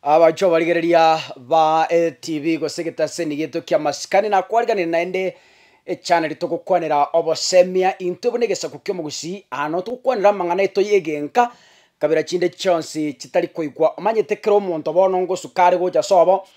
Abanchwa abarigereria ba LTV gose egetaseni gieto kia masikani nakwariganire naende echaneli togokwanera obosemia intwe buna egesaku kiomogusii aa noo togokwanera amang'ana aito yegenka kabira chinde chionsi chitari koigwa omanyete kera omonto bono ngosuka are gocha sobo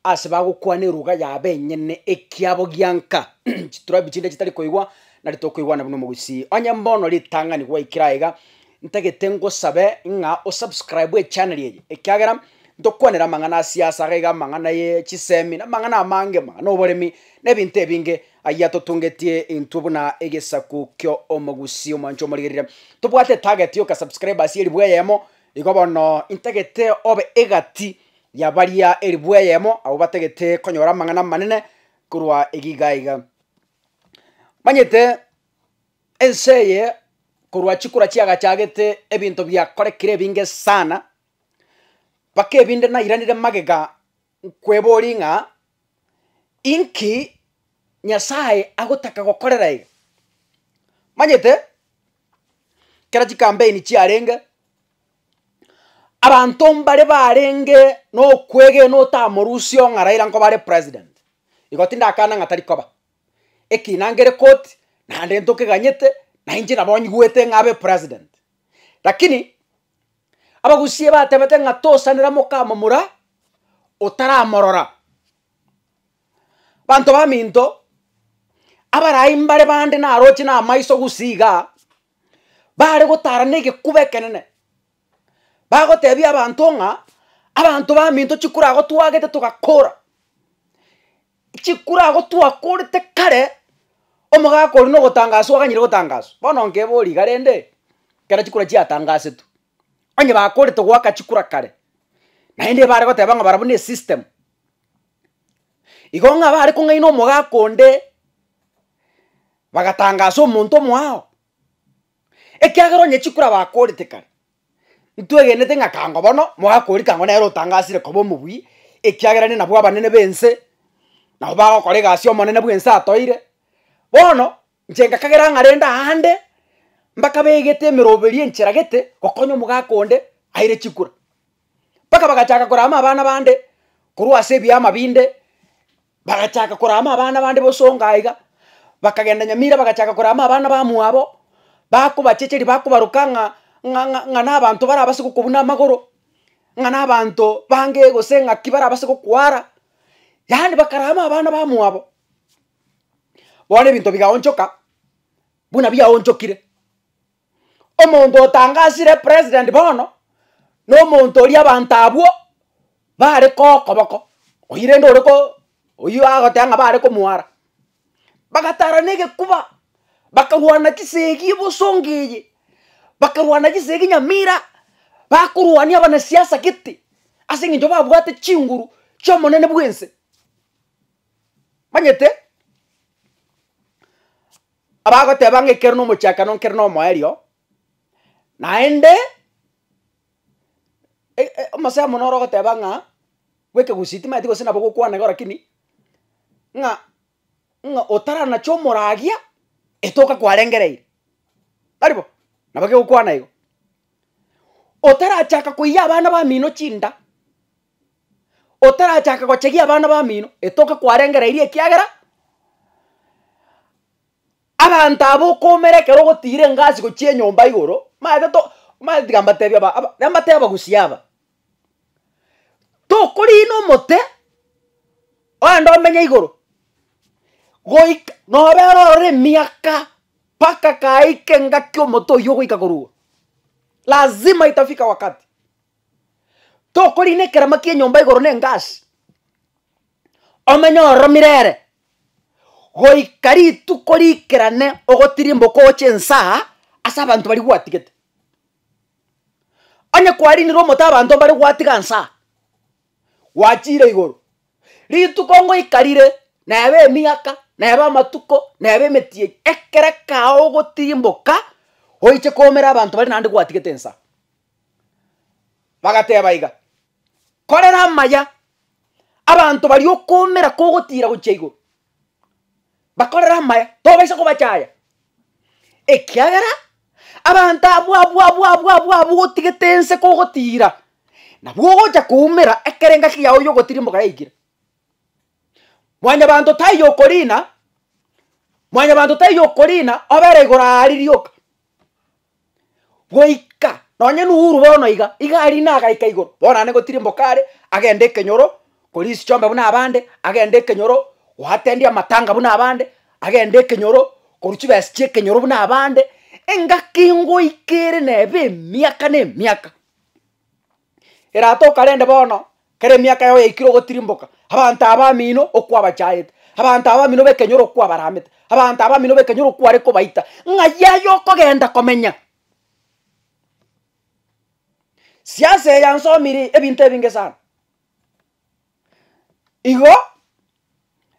ase bagokwana eruga yabo enyene ekiabo gianka chiturabi chinde chitari koigwa nari tokoigwana buna omogusii onye mbono ritang'ani gwaikire aiga Ntagete ngosabe ng'a o subscribe echaneli eye ekiagera ntokwanera amang'ana a siasa, iga iga amang'ana ye chisemi, na amang'ana amange, amang'ana oboremi, na ebinto ebinge ayia totungetie intwe buna egesaku kio omogusii omwancha omorigerire. Tobwate target yoka subscribers elifu eyemo, igo bono intagete obe egati ya baria elifu eyemo abwo batagete konyora amang'ana amanene korwa iga iga iga. Omanyete. Ense eye korwa chikura chiagachagete ebinto biakorekire ebinge sana, mpaka ebinde nairanire magega nkweborie ng'a, inki Nyasae agotaka gokorera iga? Omanyete, ekero chikampeini chiarenge, abanto mbare barenge nokwegena otamorusia ong'a Raila nkobare president, igo tindakana ng'a tarikoba. Ekiina ngere koti naende ntokeganyete na inche nabo nyigwete ng'a abe president. Lakini abagusie batebete ng'a tosanera mokamomura otaramorora. Banto baminto, abarai mbare bande naroche na amaiso gusii igaa, bare gotara na egekuba ekenene, bagotebia abanto ng'a abanto baminto chikura agotwagete togakora. Chikura agwo twakorete kare, omogaka oria na ogotangaswa oganyire gotangaswa, bono nkebori iga rende, ekero chikura chiatangasetwe, onye bakorete goaka chikura kare, naende ebare goteba ng'a barabwo na esystem. Igo ng'a bare kong'aina omogaka onde, bagatangasa omonto omoao, ekiagera onye chikura bakorete kare. Intwegenete ng'a kango bono mogakori kango nere otangasire koba omobui, ekiagera ne nabwo abanene b'ense nabo bagokora egasi y'omonene bw'ense atoire. Bono, inche ngakagera ng'a rende aande, mbaka begete emeroberi enchera gete gokonya omogaka onde aire chikura. Mpaka bagachaka korama abana bande korwa ase ebiama binde. Bagachaka korama abana bande bosongo aiga, bakagenda nyamira bagachaka korama abana bamwabo, bakobachecheria bakobaroka ng'a ng'a ng'a ng'a nabanto barabase gokobuna buna amagoro, ng'a nabanto bange gose ng'aki barabase gokwara, yaani bakarama abana bamwabo. Bono ebinto bigaonchoka buna biaonchokire. Omonto otangasire president bono, nomonto oria abanto abwo bare kokoboko, oyio rende ore ko oyio agoteba ng'a bare komwara. Bagatara na egekuba, bakarwana chisegi ebosongo eye, bakarwana chisegi nyamira, bakorwania abanasiasa gete, ase eng'encho babwate chinguru chi'omonene bw'ense. Omanyete? Abagoteba ng'a ekero nomochakano nkere nomoerio, naende e- e- omosemo noro ogoteba ng'a bwekegusii timanyeti gose nabo gokwana igo rakini, ng'a ng'a otaranache omoragia etoka kwarengereire, taribo? Nabo kegokwana igo. Otarachaka koiyia abana bamino chinda, otarachake gochegia abana bamino etoke kwarengereirie ekiagera abanto aba okoumera ekero ogotiira engasi gochia enyomba igoro maete to maete tiga mbatebie aba aba renda mbatebie abagusia aba, tokoriina omote ogende omenye igoro goik nobera ororo emiaka mpaka kaika engaki omote oyio ogoika korwa igoro lazima itafika wakati. Tokorina ekerama ki'enyomba igoro n'engasi, omenye oromire ere, goika rituko riikerane ogotirimboka oche ensaa ase abanto baria gwatigete. Onye kwarinire omote abanto mbare gwatiga nsaa, gwachiire igoro, rituko ngoika rire, nebe emiaka, nebe amatuko, nebe emetienyi, ekero kegao ogotirimboka oiche koomera abanto baria naende gwatigete ensaa. Bagateba iga, Korera amaya, abanto baria okoomera kogotiira gochia igoro, bakorere amaya, tobaisa kobachaya, ekiagera abanto abwo abwo abwo abwo abwo abwo otigete ense kogotiira, nabwo ogocha koumera ekero engaki yao yogotirimboka yaikire. Mwanyabanto taiyo okoriina, mwanyabanto taiyo okoriina obere igoro aaria rioka. Goika nonye Nuhuru bono iga, iga ari nagaika igoro, bono naende gotirimboka are, agende ekenyoro koria isichombe buna abande, agende ekenyoro goatendi amatanga buna abande, agende ekenyoro korwa chibesa chia ekenyoro buna abande, engaki ngoika ere neba emiaka na emiaka. Erato okarende bono, kera emiaka yao yaikire ogotirimboka, abanto abamino okwabachaete, abanto abamino b'ekenyoro okwabaramete, abanto abamino b'ekenyoro okware kobaita, ng'ai yaye okogenda komenya? Siasa eye yansomire ebinto ebinge sana. Igo,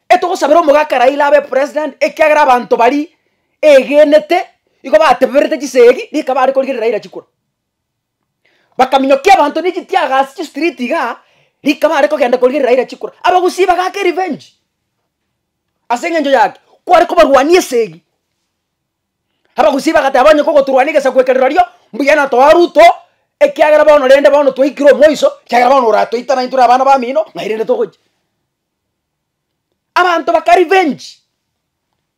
etogosabera omogaka Raila abe president, ekiagera abanto baria egenete, igo bateberete chisegi, rikaba are korigereria Raila chikura. Bakaminyokia abanto ne chitiaga ase chistreet igaa, rika bare kogenda korigereria Raila chikura. Abagusii bagaaka revenge, ase eng'encho yaki, kware kobarwania esegi. Abagusii bagateba onye kogoturwania egesaku eke rirorio, mbuya natoa Ruto, ekiagera bono rende bono twaikire omoiso, ekiagera bono oratoite naintwe na abana bamino, nairende togochi. Abanto baka revenge.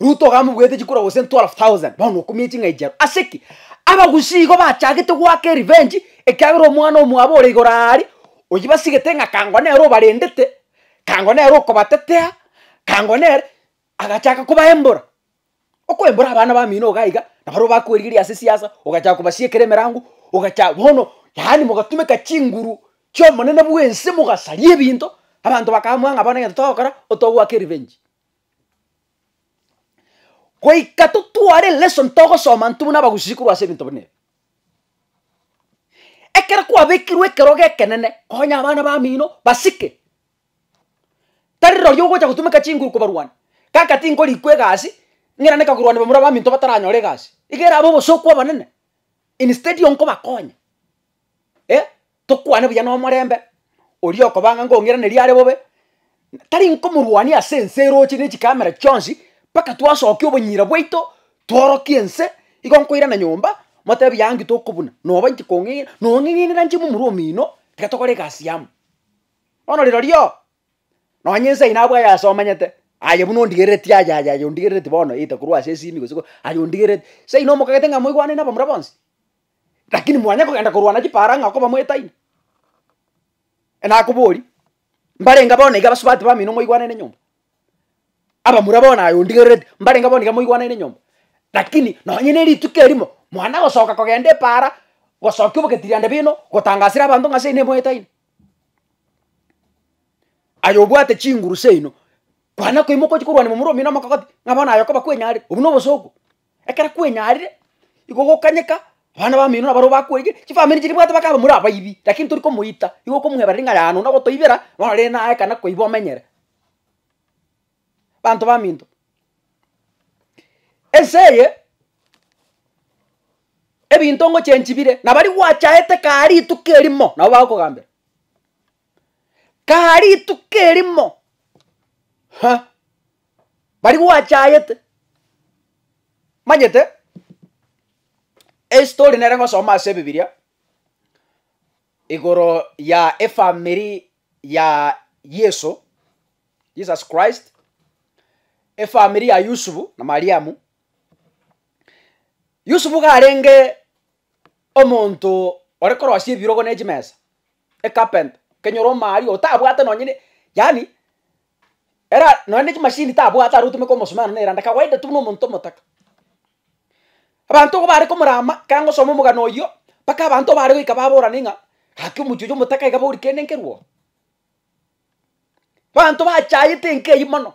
Ruto iga amobuete chikura gose 12,000 bono okumia eching'ai chiabo ase ki? Abagusii igo bachagete goaka erevenge ekiagera omwana omwabo ore igoro aaria oyibasigete ng'a kango nere obarendete, kango nere okobatetea, kango nere agachaka kobaembora. Okoembora abana bamino iga iga naboro bakwerigeria ase siasa ogachaka kobasiekera emerango ogacha bono yaani mogatumeka chinguru chi'omonene bw'ense mogasaria ebinto abanto bakamanya ng'a bono egento togokora otogoaka erevenge. Goika totware elesson togosoma intwe buna abagusii korwa ase ebinto buna ebi. Ekero kwabekirwe ekerogo ekenene, konya abana bamino basike, tari rorio ogocha gotumeka chinguru kobarwania, kaka tingorikwa egasi, ng'ina rende korwania bamura baminto bataranyore egasi, iga erabe obosio kw'abanene, instead yokobakonya. eh, tokwane buya nomorembe, oria okoba ng'a ngong'iraneria are bobe, tari nkomorwania ase ense eroche ne chikamera chionsi, mpaka twasokia obonyira bwaito, tworokie ense, igo nkoirana nyomba, motebi buya ng'aki tokobuna, noba inche kong'e nong'eng'enera inche momura omino, tiga tokore egasi amo. Bono rirorio, nonye ense eye nabwo ayasomanyete, aye buna ondigerereti aye aye aye ondigerereti bono either korwa ase esimi gose ko aye ondigerereti, seino omokagete ng'a moigwane nabamura bonsi. Lakini mwanya kogenda korwana chipara ng'a okoba moetaini? Nakoborie, mbarenge bono iga abasubati bamino moigwanane nyomba? Abamura bono aye ondigerereti, mbarenge bono iga moigwanane nyomba? Lakini nonye ne rituko erimo, mwana gosoka kogenda epara, gosokia obogeti riande bino, gotangasera abanto ng'a ase ene moetaini? Aye obwate chinguru seino, kwana koimoka ochia korwania momura omino omokogoti, ng'a bono aye okoba kwenyarire, obwo nobosa obwo? Ekero kwenyarire igo ogokanyeka abana bamino nabaro bakweiga chifamiri chiria bwate bakaba more abaibi lakini tori komoita igo okomoebareri ng'a yaya nonye ogotoibera bono rende naye ekana koiba omenyere banto baminto. Ense eye ebinto ngochengi bire na baria gwachaete kare rituko erimo nabo bagokogambera kare rituko erimo ha. Baria gwachayete, manyete estory nere ngosoma ase ebibiria, igoro ya efamiri ya Yeso, Jesus Christ, efamiri ya Yusufu na Mariamu. Yusufu karenge omonto ore korosia ebirogo ne chimesa, ecarpenter, kenyora omaaria otabwate nonye ne yaani. Era nonye ne chimashini tabwate are otomeka omosomero nere ande kawaida tu buna omonto omotaka. Abanto igo bare komorama ekero aye gosoma omogano oyio, mpaka abanto bare goika baborane ng'a gaki omochie oyio omotaka iga bori kende nkerwa oo. Abanto bachayete enka eyio mono.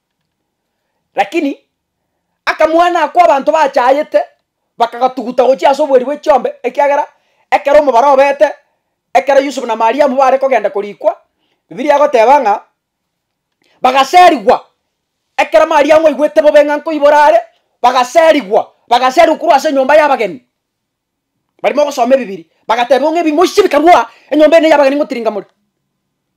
Lakini akamwana ako abanto bachayete, bakagatuguta gochia ase oboeri bwe chiombe, ekiagera ekero omobaro obete, ekero Yusufu na Mariamu bare kogenda korikwa, Bibilia egoteba ng'a bagaserigwa. Ekero Mariamu aigwete bobe ng'a nkoibora are, bagaserigwa, bagaserigwa korwa ase enyomba y'abageni. Barimo ogosoma ebibiri, bagateebwa ng'a ebimoisia bikarua enyomba ene y'abageni ngotiringa more.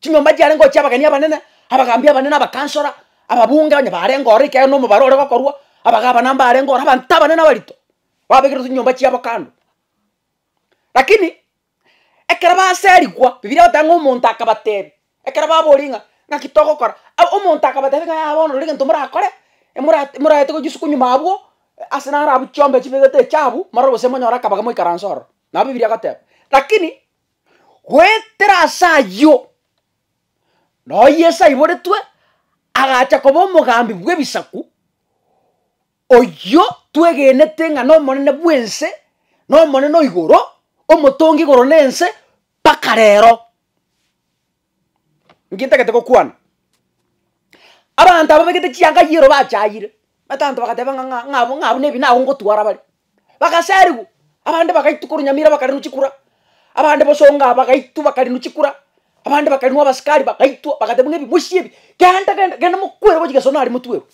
Chinyomba chiarenge oo chi'abageni abanene, abagaambi abanene, abakansora, ababunge onye barenge ororo ekiagera nomobaro ore gokorwa, abagabana mbarenge ororo, abanto abanene abarito, babekerwa chinyomba chiabo kando. Lakini ekero baserigwa, Bibilia egoteba ng'a omonto akabateebia, Ekero baboria ng'a ng'aki togokora, abu omonto akabatebia ng'a yaya bono rirorio egento morakore, mora moraete gochia isiko nyuma abwo, ase naro abwo chiombe chibegete echabu, morore gose monyore akabaga moikaranse ororo. Nabo Bibilia egoteba. Lakini, goetera ase ayio, noyo Yeso aiboretwe, agacha koba omogambi bw'ebisaku, oyio twegenete ng'a nomonene bw'ense, nomonene o igoro, omotongi igoro na ense, mpaka rero. Nki ntagete gokwana? Abanto aba begete chianga yero bachayire, etanto bagateba ng'a ng'a ng'a ng'a abwo nebi nabo ngotwara bare, bagasarigwa, abande bagaitwa korwa Nyamira bakarenwa chikura, abande bosonga bagaitwa bakarenwa chikura, abande bakarenwa abasikari bagaitwa bagateba ng'a ebi mosie ebi, genda genda genda mokwere gochia gesona aria motwerwe.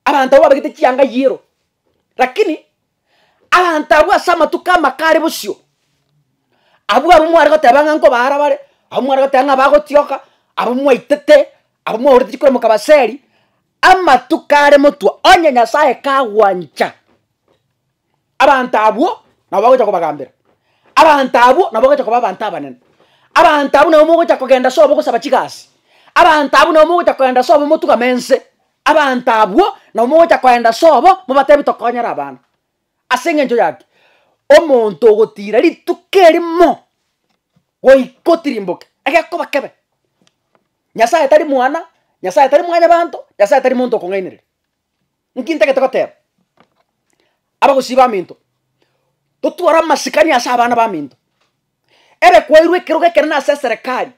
Abanto abwo babegete chianga yiero, lakini abanto abwo ase amatuko amake are bosio, abwo abwo mware goteba ng'a nkobaara bare, abwo mware goteba ng'a bagotioka, abwo mwaitete, abwo mwaorete chikoro mokabaseri, amatuko are motwe, onye Nyasaye kagwancha. Abanto abwo nabo bagocha kobagambera, abanto abwo nabo bagocha koba abanto abanene, abanto abwo nabo mogocha kogenda sobo gosaba chigasi, abanto abwo nabo mogocha kogenda sobo motugame ense, abanto abwo nabo mogocha kogenda sobo mobatebi tokonyare abana. Ase engencho yaki, omonto ogotira rituko erimo goika otirimboke, egekoba kebe. Nyasaye tari mwana, Nyasaye tari mwanyabanto, Nyasaye tari monto okong'ainereria. Nki ntagete goteba abagosii baminto? Totware amasikani ase abana baminto. Ere kwairwe ekerogo ekenene ase eserekari,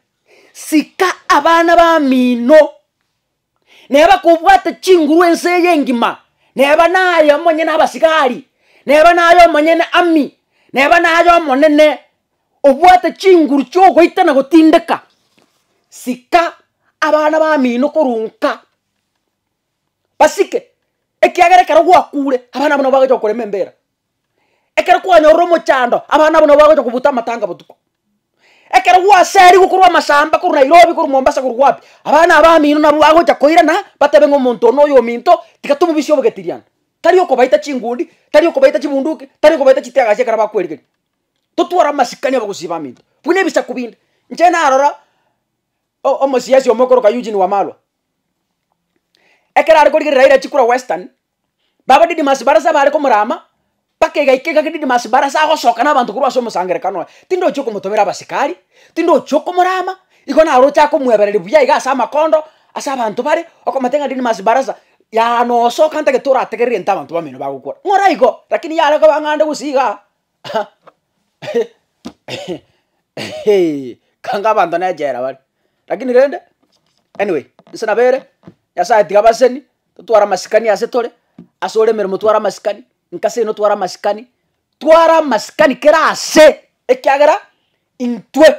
sika abana bamino, naye bakobwate chinguru ense eye engima, neba naye omonyene abasigari, neba naye omonyene ami, neba naye omonene, obwate chinguru chiogoita na gotindeka, sika abana bamino korwa nka. basike, ekiagera ekero gwakure, abana abwo nabo bagocha gokorema embera. Ekero kwanyorire omochando, abana abwo nabo bagocha kobuta amatanga botuko. Ekero gwaserigwe korwa amasamba korwa Nairobi, korwa Mombasa, korwa wapi, abana abamino nabo bagocha koirana, batebe ng'a omonto one oyominto, tiga tomobisie obogetiriani. Tari okobaita chingundi, tari okobaita chibunduki, tari okobaita chitiagasi ekero bakwerigereria. Totware amasikani abagusii baminto, buna ebisaku binde. Inche narora o- omosiasi omo okoroka Eugene Wamalwa, Ekero are korigereria Raila chikura Western, baba Didmus Barasa bare komora ama, mpaka egaika iga Didmus Barasa agosoka na abanto korwa ase omosangerekano oye, tindochia okomotobera abasikari, tindochia okomora ama, igo naro ochake komwebereri buya iga ase amakondo, ase abanto bare, okomotebi ng'a Didmus Barasa, yaani osoka ntagete orategerere egento abanto bamino bagokora, ng'ora igo, rakini yare koba ng'ande gose igaa, Kanga abanto nechera bare, rakini rende anyway inse nabo ere, Nyasaye tiga abaseni, totware amasikani ase tore, ase ore emeremo tware amasikani, inka seino tware amasikani, tware amasikani kera ase, ekiagera intwe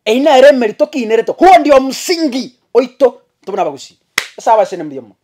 eyio nere emerito tokiinerete, huo ndio msingi oito intwe buna abagusii, Nyasaye abaseni mbuya mono.